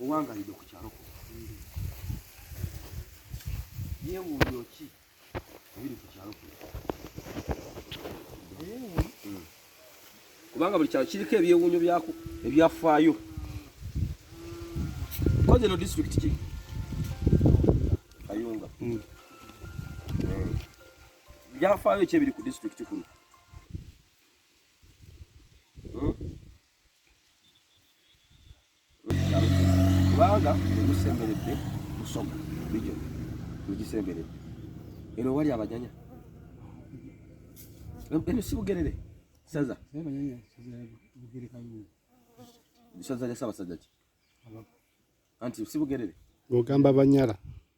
owangalidde ku kyalo yeewuunya ki ebiri ku kyalo kuno kubanga buli kyalo kiriko ebyewuunyo byako ebyafaayo koze no disitulikiti ki kayunga hmm. eh. byafaayo ki ebiri ku disitulikiti kuno kubanga musemberedde musoma bijo mugisemberedde eno wali abanyanya eno si bugerere saza saza lya sabasajja ki anti si bugerere ogamba banyala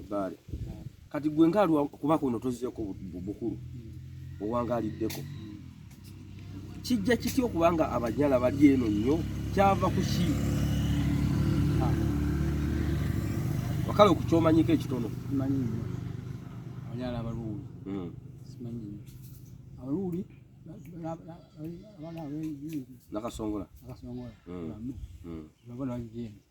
ebbaale kati gwe nkalwa kuba kuno tozzeeko bukulu hmm. owangaliddeko hmm. kijja kitya okuba nga abanyala bali eno nnyo kyava ku ki ah. wakala okukyomanyiko ekitono abanyala abaluuli hmm. simanyi abaluuli nakasongola nakasongola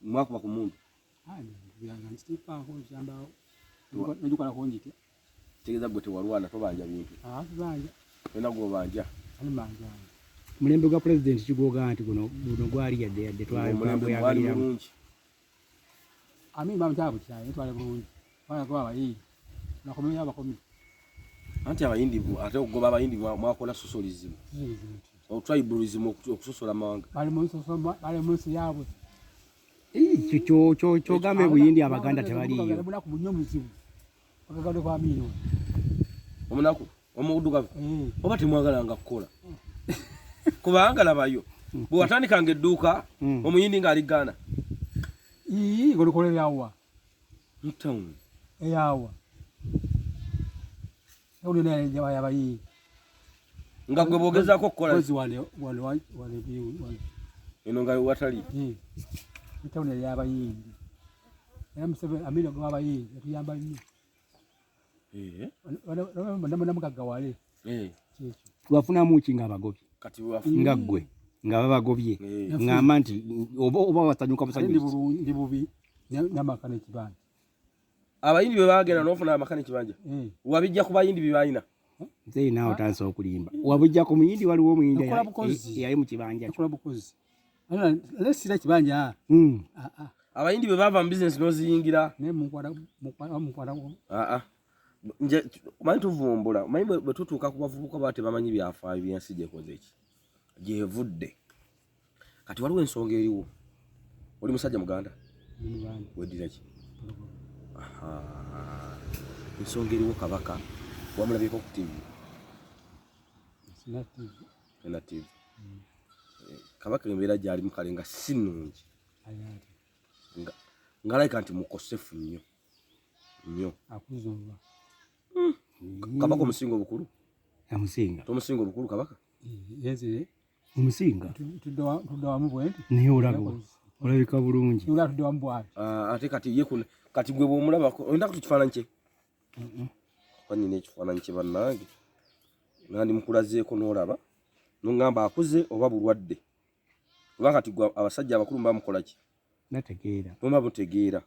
mwakuba ku mundu tegeza gwe tewalwana tobanja bintu tolina ah, gwobanja mulembe gwa pulezidenti kigwogaa nti guno guno gwali yadde yadde twali mulungi anti abayindi ate okugoba abayindi mwakola sosolizimu otribalism okusosola amawanga bali munsi yabwe kyogambe buyindi abaganda tebaliyo omunaku omudugavu eh. oba temwagalanga kukola kubanga labayo bwewatandikanga edduuka hmm. omuyindi ngaali gaana golokoleryawa mu town eyawa uli naye jawa yaba yi nga gwe bogeza ko kola kozi wale wale wale bi wale eno nga watali eh mu town yaba yi era musebe amira gwa yaba yi yatuyamba nnyo namugaggawale wafunamu ki nga abagobi nga ggwe nga babagobye ngamba nti oba wasanyuka busanyundi bubi namaka nekibanja abayindi bebagenda nofuna amaka nekibanja wabijja ku bayindi byebalina nze naawe otandisa okulimba wabujja ku muyindi waliwo omuyindi eyali mu kibanja kyo lesira kibanja ah. hmm. ah, ah. abayindi bwe bava mu bizinesi n'oziyingira manyi tuvumbula manyi bwe tutuuka ku bavubuka baba tebamanyi byafaayo byensi gyekoze eki gyevudde kati waliwo ensonga eriwo oli musajja muganda weddira ki ensonga eriwo kabaka wamulabyeko ku tivi relative kabaka embeera gyali mukale nga si nungi ngalayika nti mukosefu nnyo nnyo hmm. kabaka omusinga obukulu amusinga tomusinga obukulu kabaka eh, omusinga tuddawamu bwenti naye olaba olabika bulungi ah, ate kati ye kati gwe bwomulabako oyinda kutu kifaananyi kye oba nina ekifaananyi kye bannange nandi mukulazeeko n'olaba nongamba akuze oba bulwadde oba kati gwe abasajja abakulu muba mukola ki muba mutegeera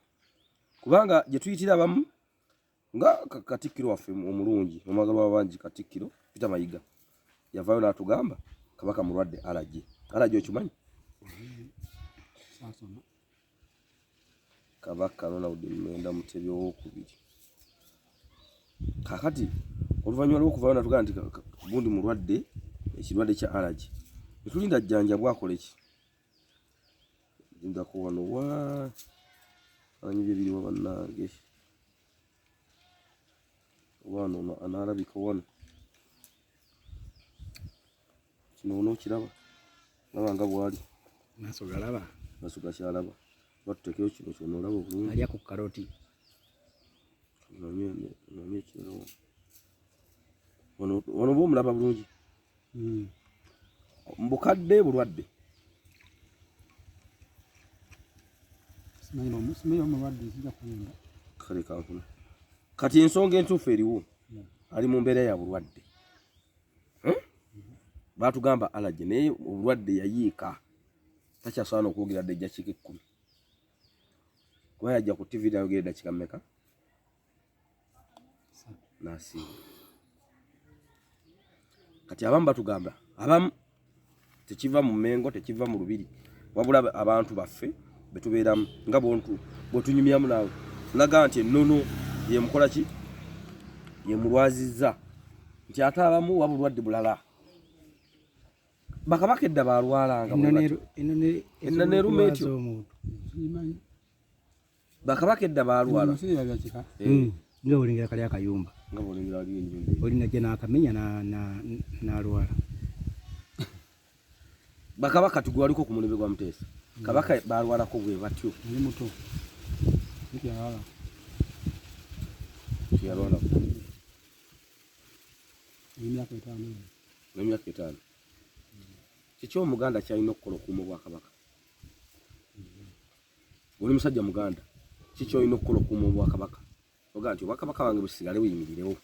kubanga gye tuyitira abamu nga katikkiro waffe omulungi omwagalwa wabangi katikkiro pita mayiga yavaayo n'atugamba kabaka mulwadde alagye alagye okimanyi Kabaka Ronald Muwenda Mutebi owokubiri. Kakati oluvannyuma lw'okuvayo natugaa nti gundi mulwadde ekirwadde kya alaji etulinda jjanja bwakole ki lindako wano wa anyi bye biriwa bannange wano anaalabika wano kino onokiraba laba nga bwali maso galaba maso gakyalaba batutekeyo kino kyona olaba obulungi alya ku karoti wano oba omulaba bulungi hmm. mbukadde bulwadde kati ensonga entuufu eriwo hmm. ali mu mbeera ya bulwadde hmm? batugamba alaje naye obulwadde yayiika takyasobola nokwogera dde ejjakika ekkumi kuba yajja ku tv nayogera eddakika mmeka nasiiba kati abamu batugamba abamu tekiva mu mengo tekiva mu lubiri wabula abantu baffe betubeeramu nga bontu bwetunyumyamu naawe laga nti ennono yemukola ki yemulwazizza nti ate abamu waba bulwadde bulala bakabaka edda balwalanga ennono eruma etyo bakabaka edda baalwala hmm. nga olengera kali akayumba oli najja n'akamenya n'alwala bakabaka tugwaliko ku mulembe gwa muteesa hmm. kabaka baalwalako bwe batyo muto yalwalako emyaka etaano emyaka etaano kiki omuganda kyalina okukola okuuma obwakabaka oli musajja muganda kiki olina okukola okukuuma obwakabaka ogaa nti obwakabaka wange busigale buyimirirewo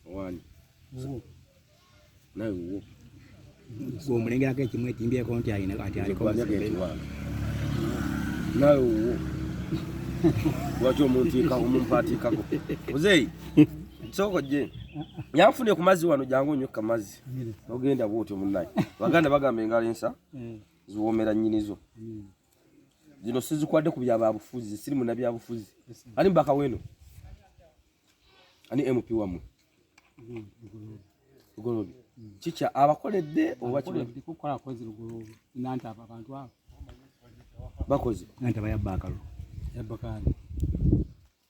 owani nawe wuwo omulengerako ekimu etimbyeko nti alina ati aliko nawe wuwo lwaki omuntiikako omumpaatiikako muzeeyi sooka ojje yanfune ku mazzi wano jangu onyokka mazzi nogenda bwotyo munaye baganda bagamba engalo ensa mm. ziwomera nyinizo mm. zino sizikwade ku byababufuzi zisiri muna byabufuzi ani mbaka weno ani mp wamwe lugolobi mm, kikya abakoledde oba bakoze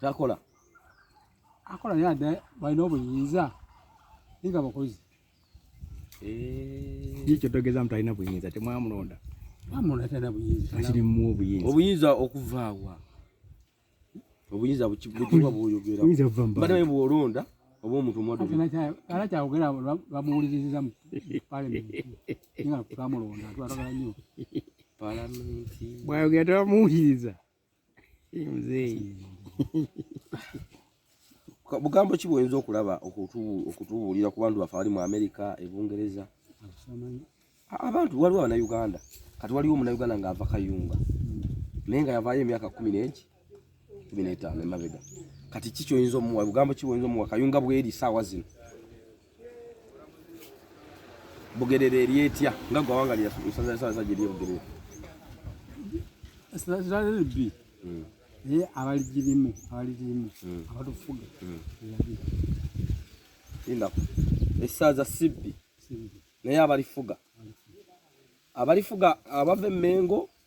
takola akola naye ate balina obuyinza naye nga bakozi eh. kikyo togeza mtu alina buyinza temwamulonda obuyinza okuvaawa obuyinza bukibugirwa bwoyogera badawe bwolonda oba omuntu mwadala kyawogera bamuwuliriziza mu palamenti nga twamulonda twatagala nyo bwayogera tebamuwuliriza muzeeyi bugambo ki bwoyinza okulaba okutubuulira ku bantu baffe abali mu amerika ebungereza abantu waliwo abanauganda kati waliwo omunauganda ng'ava kayunga naye nga yavaayo emyaka kumi n'egi kumi n'etaano emabega kati ki kyoyinza omuwa bugambo ki bwoyinza omuwa kayunga bweri saawa zino bugerera eri etya nga gwe awanga lyasaza esaawa za gyeri ebugerera esazaebi hmm. naye abaligirimu abaligirimu hmm. abatufuga hmm. indako esaaza sibbi naye abalifuga abalifuga abava emengo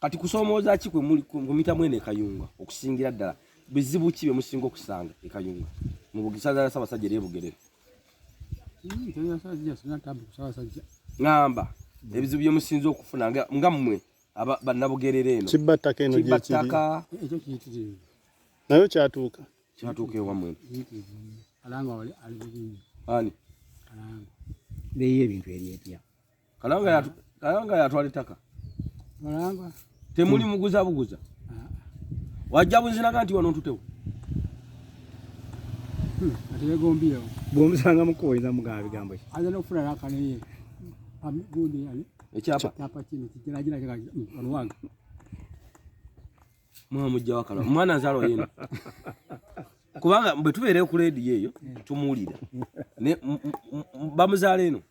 kati kusomooza ki kwe muli kumita mwene ekayunga okusingira ddala bizibu ki bye musinga okusanga ekayunga mu bugisaza ya sabasajja eri ebugerere ngamba ebizibu bye musinze okufuna nga mmwe bannabugerere eno kibba ttaka eno gyekiri nayo kyatuuka kyatuuka ewamwe ani leyo ebintu ebyepya Kalanga ya Kalanga ya twali taka. Kalanga. Temuli muguza buguza. Ah. Wajja buzina kanti wano tutewo. Hmm, atele gombi yao. Gombi sanga mko iza mga bigambo. Aza no fura raka ne ye. Am gundi yani. Echapa. Chapa chini kitira jira kaka hmm, wano wanga. Mwa mujja wakala. Mwana zalo yenu. Kubanga bwe tubeere ku leedi yeeyo hmm. tumuwulira ne bamuzaala eno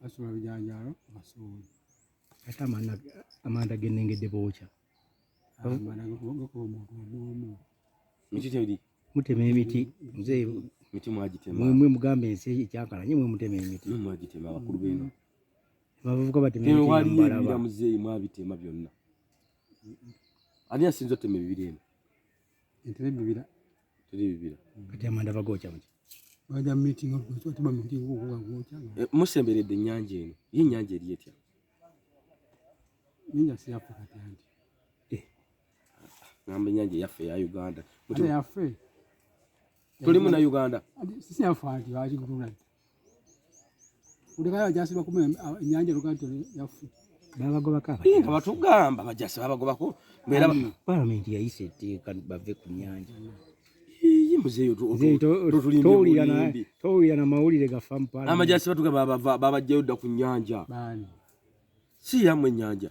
basula bijanjaalo basuuli ate amanda genengedde bookya mutema emiti mzee miti mwagitema mwe mugamba ensi ekyakala nye mwe mutema emiti mwe mwagitema abakulu beno abavubuka batema emiti wali ebira mzee mwabitema byonna ani asinza otema ebibiri eno entebe bibira tuli bibira kati amanda bagokya muki baja meeting okugokya tuba meeting okuba gokya eh, musemberedde ennyanja eno ye ennyanja eri etya ninja siyafa kati anti eh, ngamba ennyanja yaffe eya uganda yaffe tuli muna Uganda sisi yafa nti waji kutuna ulikayo jasi bakume nyanja lukanto yafu babagoba kaba inga batugamba bajasi babagoba ko mbera mm. parliament yayise teka bave ku nyanja iyi muzeyo tu tuli towulira na towulira na mawulire gafa mpala amajasi batuga baba baba jeuda ku nyanja bani si yamwe nyanja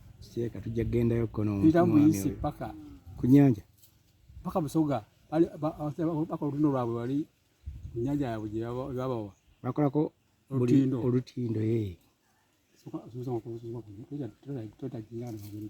Seka tujja gendayo kono. Pita muyisi paka. Kunyanja. Paka busoga. Ali bako luno lwabwe wali kunyanja ya buje baba wa. Bakola ko olutindo. Olutindo eh. Soka soka ko soka ko. Tuta tuta jingana ngiri.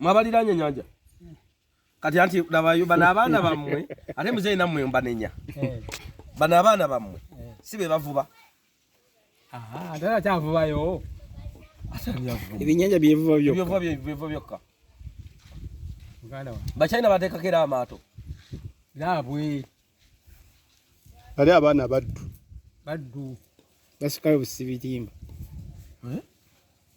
mwabaliranye nyanja kati anti nabayo bana abaana bamwe ate mzee namwe mbanenya eh. bana abaana bamwe eh. si be bavuba ate akyavubayo ebinyanja byevuba byevuba byokka bachina bateekako era amaato naabwe bali abaana baddu baddu basikayo busibitimba eh?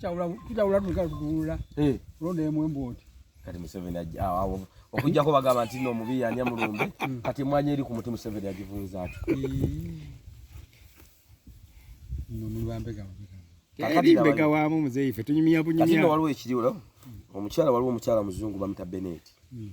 tutabula tuga tutunula eh. kulonda emu embooti kati museveni awo okujjako bagamba nti no mubi yanya mulumbe hmm. kati emwanyi eri ku muti museveni agivunza ati mbega wamu muzeyi fe tunyumya bunyumya waliwo ekiriwo omukyala waliwo omukyala muzungu bamuta beneti hmm.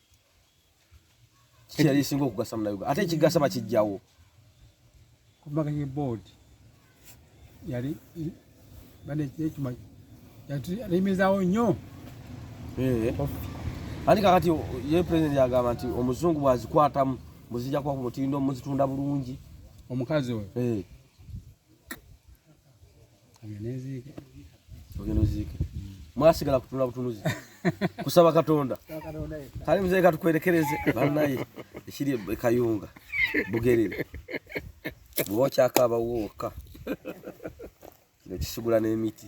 kiyali esinga okugasa munayuga ate ekigasa bakijjawo kumbaga ye board yali bane ekima yatulemezaawo nnyo eh. ani kakati ye president yagamba nti omuzungu bwazikwatamu muzija kuba ku mutindo muzitunda bulungi omukazi oyo eh. ogenda oziike mwasigala kutunula butunuzi kusaba katonda kale mzee katukwerekereze banaye ekiri ekayunga bugerere bwoba okyakaaba wooka nekisigula n'emiti